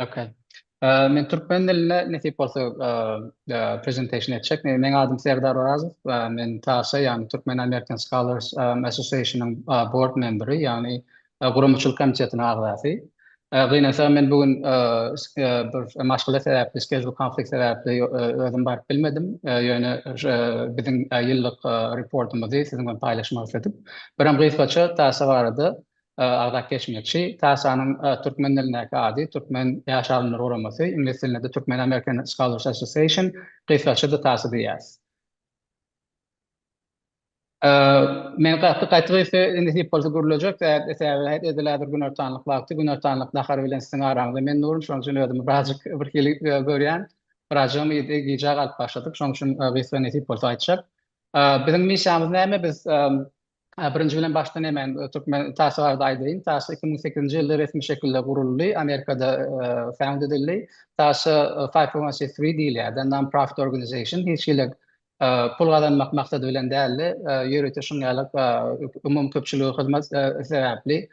Ok. Men türkmen dilinde nesip bolsa presentation etjek. Meniň adym Serdar Orazow. Men TASA, ýagny Turkmen American Scholars Association-yň board memberi, ýagny guramaçylyk komitetiniň agzasy. Gynansagam men bu gün bir maşgala sebäpli, schedule conflict sebäpli özüm baryp bilmedim. Ýöne biziň ýyllyk reportymyzy siziň bilen paýlaşmak isledik. Biram gysgaça TASA barada agzap geçmekçi. TASA-nyň türkmen dilindäki ady Türkmen ýaş alymlar guramasy, iňlis dilinde-de Türkmen American Scholars Association, gysgaça-da TASA diýýäs. Men gaty gaty-gysga indi diýip bolsa gürlejek zat, sebäbi edil häzir günortanlyk wagty, günortanlyk nahary bilen siziň araňyzda men durun, şonuň üçin özümi birazjyk birhili görýän. Birazjygym gijä galyp başladyk, şonuň üçin gysga nesip bolsa aýtjak. Biziň missiýamyz näme? Biz Birinji bilen başdan hemen Türkmen TASS-y barada aýdaýyn. TASS iki müň sekizinji ýylda resmi şekilde guruldy, Amerikada found edildi. TASS-a five oh one C three diýilýär, The Non-Profit Organization, hiç hili pul gazanmak maksady bilen däldi, ýörite şuň ýaly umumyköpçülige hyzmat sebäpli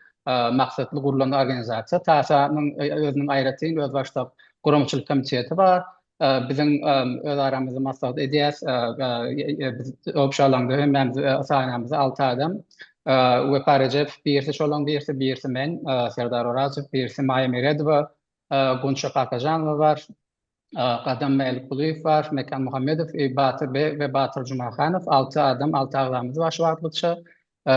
maksatly gurulan organizasiýa. TASS-anyň özüniň aýratyn özbaşdak guramaçylyk komiteti bar, Biziň öz aramyzda maslahat edýäs. Biz obşa alanda hemmämiz sanamyz alty adam. Wepa Rejepow birisi, şolaň birisi, birisi men, Serdar Orazow, birisi Maýa Meredowa, Gunça Kakajanowa bar, Gadam Mälikgulyýew bar, Mekan Muhammedow, Batyr we Batyr Jumahanow, alty adam, alty agzamyz bar şu wagtlykça.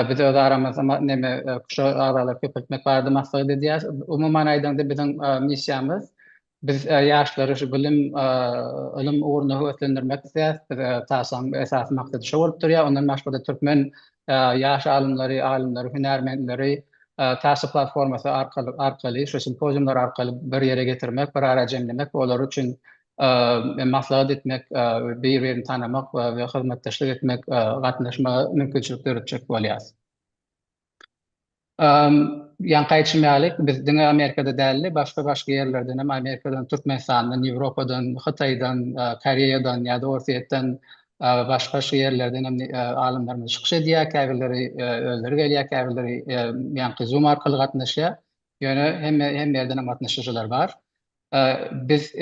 Biz öz aramyzda ma, neme, QŞO agzalary köpeltmek barada maslahat edýäris. Umuman aýdaňda biziň missiýamyz, biz ýaşlary şu bilim, ylym ugrunda höweslendirmek isleýäris. Biz TASA-nyň esasy maksady şo bolup durýar. Ondan başga-da türkmen ýaş alymlary, alymlary, hünärmenleri TASA platformasy arkaly, arkaly, şu simpoziumlar arkaly bir ýere getirmek, bir ara jemlemek we olar üçin maslahat etmek, bir-birini tanamak we hyzmatdaşlyk etmek, gatnaşmaga mümkinçilik döretjek bolýar. Ýaňky aýdyşym ýaly, biz diňe Amerikada däl-de, başga-başga ýerlerden hem, Amerikadan, Türkmenistandan, Ýewropadan, Hytaýdan, Koreýadan ýa-da Orsýetden, başga-başga ýerlerden hem alymlarymyz çykyş edýär, käbirleri özleri gelýär, käbirleri ýaňky Zoom arkaly gatnaşýar. Ýöne hemme ýerden hem gatnaşyjylar bar. Biz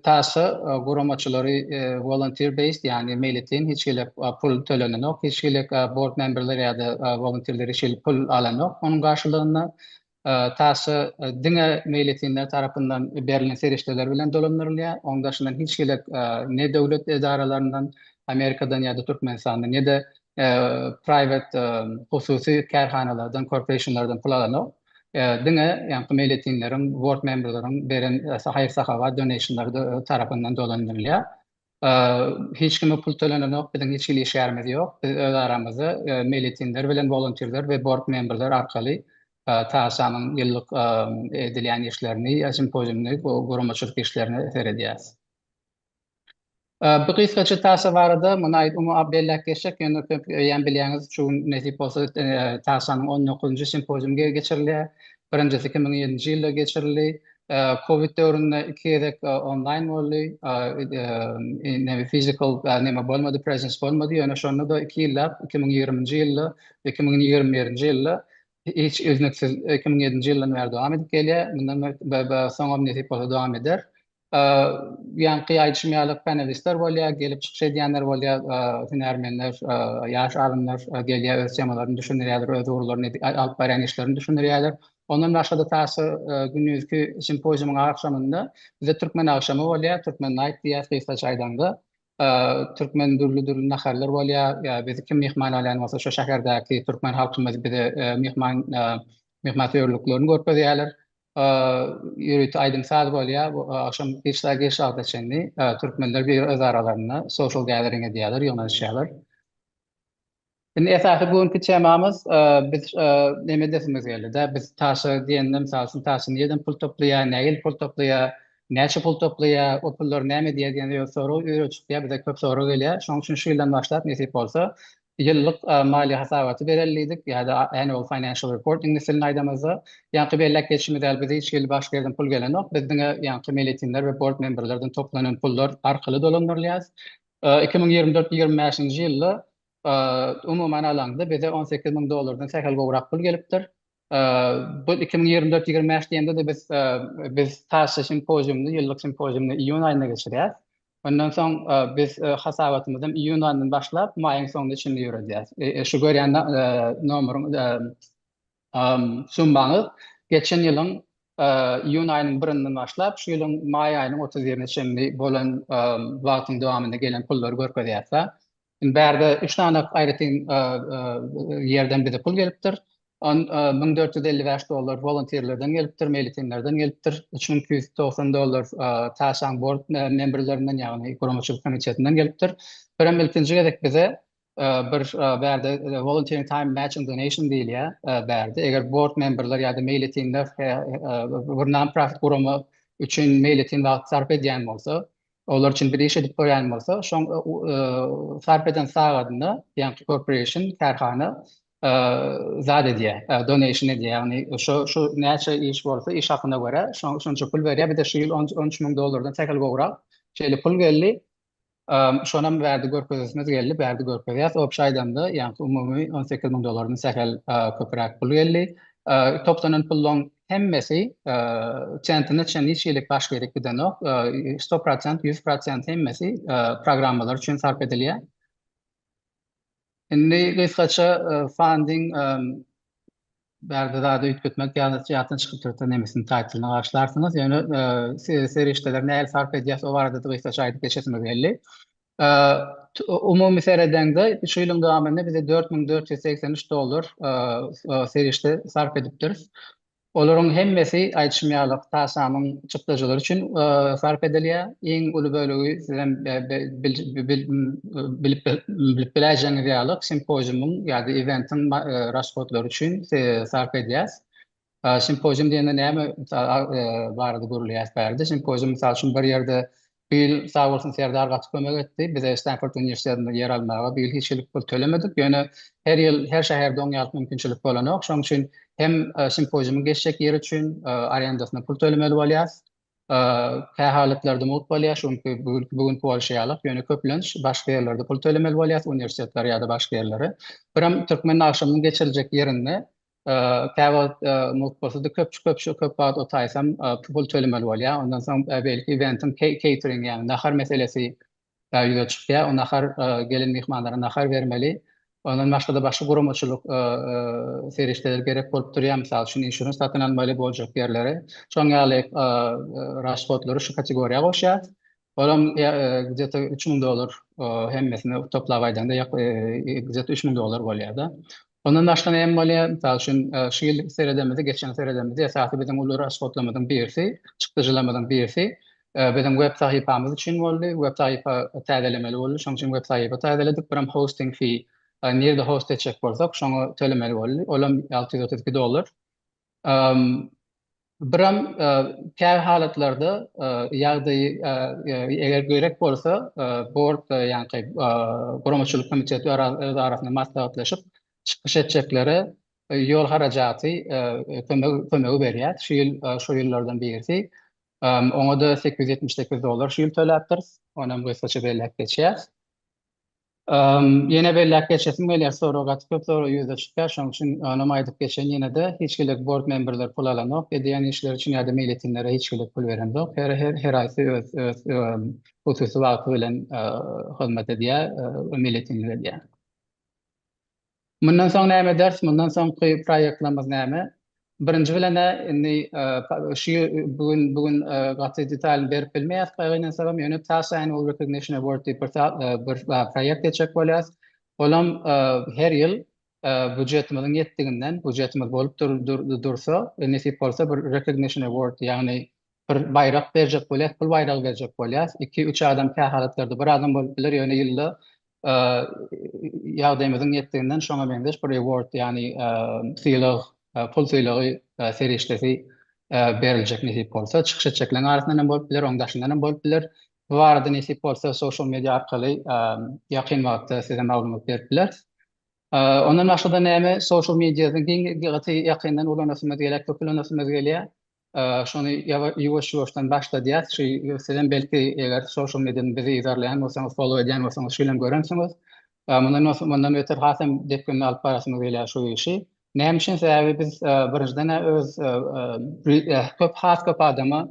taşy guramaçylary volunteer based, ýagny meýletin, hiç hili pul tölenenok, hiç hili board memberler ýa-da volunteerler hiç hili pul alanok onuň garşylygynda. Taşy diňe meýletinler tarapyndan berlen serişdeler bilen dolandyrylýar, onuň daşyndan hiç hili ne döwlet edaralaryndan, Amerikadan ýa-da Türkmenistandan, ne-de private, hususy, kärhanalardan, korporationlardan pul alanok. Diňe ýaňky meýletinleriň, board memberleriň beren haýyr-sahawat, donation-lary da öz tarapyndan dolandyrylýar. Hiç kime pul tölenenok, biziň hiç hili işgärimiz ýok. Biz öz aramyzda meýletinler bilen wolontýrler we board memberler arkaly TASA-nyň ýyllyk edilýän işlerini, simpoziumyny, guramaçylyk işlerini seredýäris. Bu gysgaça taýsa barada muny aýt umumy belläp geçjek, ýöne köp öýem bilýäňiz, şu gün nesip bolsa taýsanyň on dokuzynjy simpoziumy geçirilýär. Birinjisi iki müň ýedinji ýylda geçirildi. Covid döwründe iki gezek onlaýn boldy. Neme fizikal neme bolmady, presence bolmady, ýöne şonda-da iki ýyllap iki müň ýigriminji ýylda, iki müň ýigrimi birinji ýylda hiç üznüksiz iki müň ýedinji ýyldan bäri dowam edip gelýär. Mundan be be soňam nesip bolsa dowam eder. Ýaňky aýdyşym ýaly panelistler bolýar, gelip çykyş edýänler bolýar, hünärmenler, ýaş alymlar gelýär, öz temalaryny düşündirýärler, öz ugurlaryny, alyp barýan işlerini düşündirýärler. Ondan başga-da taýsyz gündizki simpoziumyň agşamynda bizde türkmen agşamy bolýar, türkmen naýt diýýäs gysgaça aýdanda. Türkmen dürli-dürli naharlar bolýar, bizi kim myhman alýan bolsa şo şäherdäki türkmen halkymyz bize myhman myhmansöýerliklerini görkezýärler. ýörite aýdym-saz bolýar, bu agşam giç sagat giç wagta çenli türkmenler bir öz aralarynda social gathering edýärler, ýygnanyşýarlar. Indi esasy bu günki temamyz biz neme edesimiz geldi-de, biz taşa diýende, mysal üçin, taşa nireden pul toplaýar, nähili pul toplaýar, näçe pul toplaýar, o pullar näme diýýär diýen ýaly sorag ýüregimize çykýar, bize köp sorag gelýär. Şonuň üçin şu ýyldan başlap nesip bolsa, ýyllyk maliýe hasabaty bereli diýdik ýa-da annual financial report iňlis dilinde aýdamyzda. Ýaňky belläp geçişimiz ýaly, bize hiç hili başga ýerden pul gelenok. Biz diňe ýaňky meýletinler we bord memberlerden toplanan pullar arkaly dolandyrylýarys. Iki müň ýigrimi dört ýigrimi bäşinji ýylda umuman alanda bize on sekiz müň dollardan sähel gowrak pul gelipdir. Bu iki müň ýigrimi dört, ýigrimi bäş diýende-de biz biz taşça simpoziumyny, ýyllyk simpoziumyny iýun aýynda geçirýäris. Ondan soň biz hasabatymyzy hem iýun aýyndan başlap, maýyň soňuna çenli ýöredýäris. Şu görýän nomeryň summaňyz geçen ýylyň iýun aýynyň birinden başlap, şu ýylyň maý aýynyň otuz birine çenli bolan wagtyň dowamynda gelen pullary görkezýär. Indi bärde üç sany aýratyn ýerden bize pul gelipdir. Müň dört ýüz elli bäş dollar wolontirlerden gelipdir, meýletinlerden gelipdir. Üç müň iki ýüz togsan dollar Taşaň bord memberlerinden, ýagny guramaçylyk komitetinden gelipdir. Birem ilkinji gezek bize bir bärde Volunteering Time Matching Donation diýilýär bärde. Eger bord memberler ýa-da meýletinler bir non-profit gurama üçin meýletin wagt sarp edýän bolsa, Olar üçin bir iş edip görýän bolsa, şoň sarp eden sagadyna, ýagny corporation, kärhana, zat edýär, donation edýär, ýagny şo şu näçe iş bolsa, iş hakyna görä, şoň şonça pul berýär, bir-de şu ýyl on on üç müň dollardan sähel gowrak şeýle pul geldi, şonam bärde görkezesimiz geldi, bärde görkezýäs, obşa aýdanda, ýagny umumy on sekiz müň dollardan sähel köpräk pul geldi. Toplanan puluň hemmesi sentine çen hiç hili baş gerek gidenok. 100%, 100% hemmesi programmalar üçin sarp edilýär. Indi gysgaça funding bärde zady üýtgetmek ýatdan çykyp dursa nemesini taýtlyny garyşlarsyňyz. Ýöne serişdeleri nähili sarp edýäs o barada-da gysgaça aýdyp geçesimiz geldi. Umumy seredeňde, şu ýylyň dowamynda bize dört müň dört ýüz segsen üç dollar serişde sarp edipdiris. Olaryň hemmesi, aýdyşym ýaly, TASAM-yň çykdajylary üçin sarp edilýär. Iň uly bölegi, sizem bilip biläýjegiňiz ýaly, simpoziumyň ýa-da eventiň rashodlary üçin sarp edýäs. Simpozium diýende näme barada gürleýäris bärde? Simpozium mysal üçin bir ýerde bu ýyl sag bolsun Serdar gaty kömek etdi. Bize Stanford uniwersitetinde ýer almaga bu ýyl hiç hili pul tölemedik. Ýöne her ýyl her şäherde oň ýaly mümkinçilik bolanok. Şonuň üçin hem simpoziumyň geçjek ýeri üçin arendasyna pul tölemeli bolýas. Kä halatlarda mugt bolýar, şu günki bu günki bolşy ýalyk. Ýöne köplenç başga ýerlerde pul tölemeli bolýas, uniwersitetler ýa-da başga ýerlere. Birem Türkmen agşamynyň geçiriljek ýerinde Käwagt mugt bolsady köpçi-köpçi köp wagt otaýsam pul tölemeli bolýar. Ondan soň beýleki eventiň keýtering ýagny nahar meselesi ýüze çykýar. O nahar gelen myhmanlara nahar bermeli. Ondan başgada başga guramaçylyk serişdeleri gerek bolup durýar. Mysal üçin insurans satyn almaly boljak ýerleri. Şoň ýaly rashodlary şu kategoriýa goşýar. Olam gde-te üç müň dollar hemmesini toplap aýdaňda ýok gde-te üç müň dollar bolýar-da. Ondan başga näme bolýar? Mysal üçin, şu ýyl seredemizde, geçen seredemizde esasy biziň uly rashodlamyzyň birisi, çykdajylarymyzyň birisi biziň web sahypamyz üçin boldy. Web sahypa täzelemeli boldy. Şonuň üçin web sahypa täzeledik. Biram hosting fee, nirde host etjek bolsak, şoňa tölemeli boldy. Olam alty ýüz otuz iki dollar. Bram käbir halatlarda ýagdaýy eger gerek bolsa bord ýaňky guramaçylyk komiteti öz arasynda maslahatlaşyp çykyş etjeklere ýol harajaty kömegi berýär. Şu ýyl şo ýyllardan birisi oňa-da sekiz ýüz ýetmiş sekiz dollar şu ýyl töläpdiris. Onam gysgaça belläp geçýäs. Ýene belläp geçesim gelýär, sorag gaty köp sorag ýüze çykýar, şonuň üçin onuň aýdyp geçeýin ýene-de, hiç gezek bord memberleri pul alanok, edýän işleri üçin ýa-da meýletinlere hiç gezek pul berenok, her her heraýsy öz öz hususy wagty bilen hyzmat edýär we meýletinlik edýär. Mundan soň näme eders? Mundan soňky proýektlerimiz näme? Birinji bilen-ä indi şu bu gün bu gün gaty detalyny berip bilmeýäs kagynansagam, ýöne Taşaýyn Wall Recognition Award diýip bir bir proýekt etjek bolýarys. Olam her ýyl býujetimiziň ýetdiginden, býujetimiz bolup dursa, nesip bolsa bir Recognition Award, ýagny Bir baýrak berjek bolýas, pul baýragy berjek bolýas. Iki, üç adam kä halatlarda bir adam bolup biler, ýöne ýylda ýagdaýymyzyň ýetdiginden şoňa meňzeş bir reward, ýagny sylag, pul sylagy serişdesi beriljek nesip bolsa. Çykyş etjekleriň arasyndan hem bolup biler, onuň daşyndan hem bolup biler. Bu barada nesip bolsa social media arkaly ýakyn wagtda size maglumat berip bileris. Ondan başga-da näme social media-ny gaty ýakyndan ulanasymyz gelýär, köp ulanasymyz gelýär. Şony ýuwaş-ýuwaşdan başladýas. Şu sizem belki eger social mediadan bizi yzarlaýan bolsaňyz, follow edýän bolsaňyz şuýlam görensiňiz. Mundan beter hasam depginli alyp barasymy gelýär şu işi. Näme üçin? Sebäbi biz birinjiden öz köp has köp adama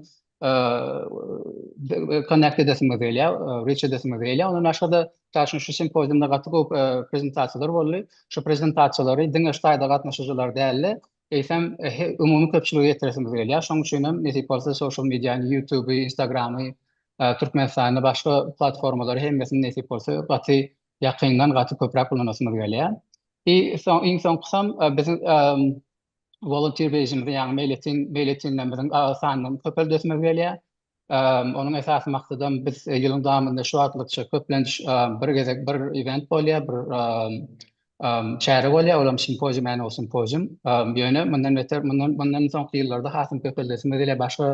connect edesimiz gelýär, reach edesimiz gelýär. Ondan başga-da mysal üçin şu simpoziumda gaty köp prezentasiýalar boldy. Şu prezentasiýalary diňe şu taýda gatnaşyjylar däl-de, eýsem umumy köpçülige ýetiresimiz gelýär. Şonuň üçin hem nesip bolsa social mediany, YouTube, Instagramy, Türkmenistanda başga platformalary hemmesini nesip bolsa gaty ýakyndan gaty köpräk ulanasymyz gelýär. I soň iň soňkusam biziň volunteer bejimizi ýagny meýletin meýletinlerimiziň sanyny köpeldesimiz gelýär. Onuň esasy maksadam biz ýylyň dowamynda şu wagtlykça köplenç bir gezek bir event bolýar, bir çäre bolýar, olam simpozium, annual simpozium. Ýöne mundan beter, mundan mundan soňky ýyllarda hasam köpeldesimiz gelýär, başga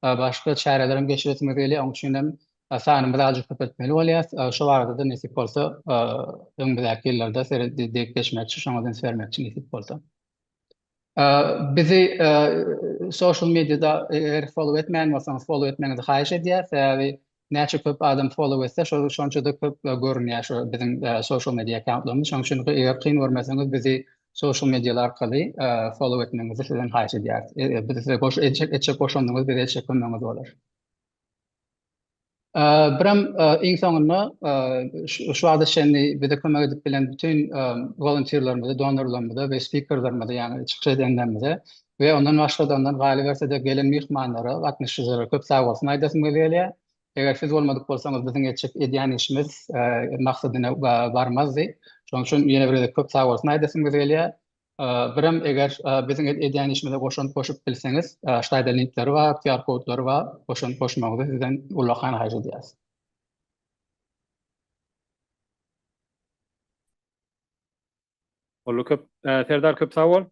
başga çärelerem geçiresimiz gelýär. Onuň üçin hem sanymyzy azajyk köpeltmeli bolýarys. Şo barada-da nesip bolsa, öňümizdäki ýyllarda seret diýip geçmekçi, şoňa da üns bermekçi nesip bolsa. Bizi social mediada eger follow etmeýän bolsaňyz follow etmegiňizi haýyş edýäs. Sebäbi näçe köp adam follow etse şonça-da köp görünýär şu biziň social media accountlarymyz. Şonuň üçin eger kyn görmeseňiz bizi social medialar arkaly follow etmegiňizi sizden haýyş edýäris. Biz size goşulyp etjek goşandyňyz bize etjek kömegiňiz bolar. Birem iň soňunda şu wagta çenli bize kömek edip bilen bütin wolontýrlarymyza, donorlarymyza we spikerlerimize, ýagny çykyş edenlerimize we ondan başga-da, ondan galyberse-de gelen myhmanlara, gatnaşyjylara köp sag bolsun aýdasym gelýär. Eger siz bolmadyk bolsaňyz biziň etjek, edýän işimiz maksadyna barmazdy. Şonuň üçin ýene bir gezek köp sag bolsun aýdasymyz gelýär. Birem eger biziň edýän işimize goşant goşup bilseňiz, aşaýda linkleri bar, QR kodlary bar, goşant goşmagyňyzy sizden ullakan haýyş edýäris. Boldy köp Serdar köp sag bol.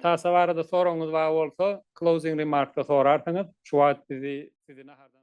Tasa barada soragyňyz bar bolsa closing remarkda sorarsyňyz. Şu wagt bizi sizi nahardan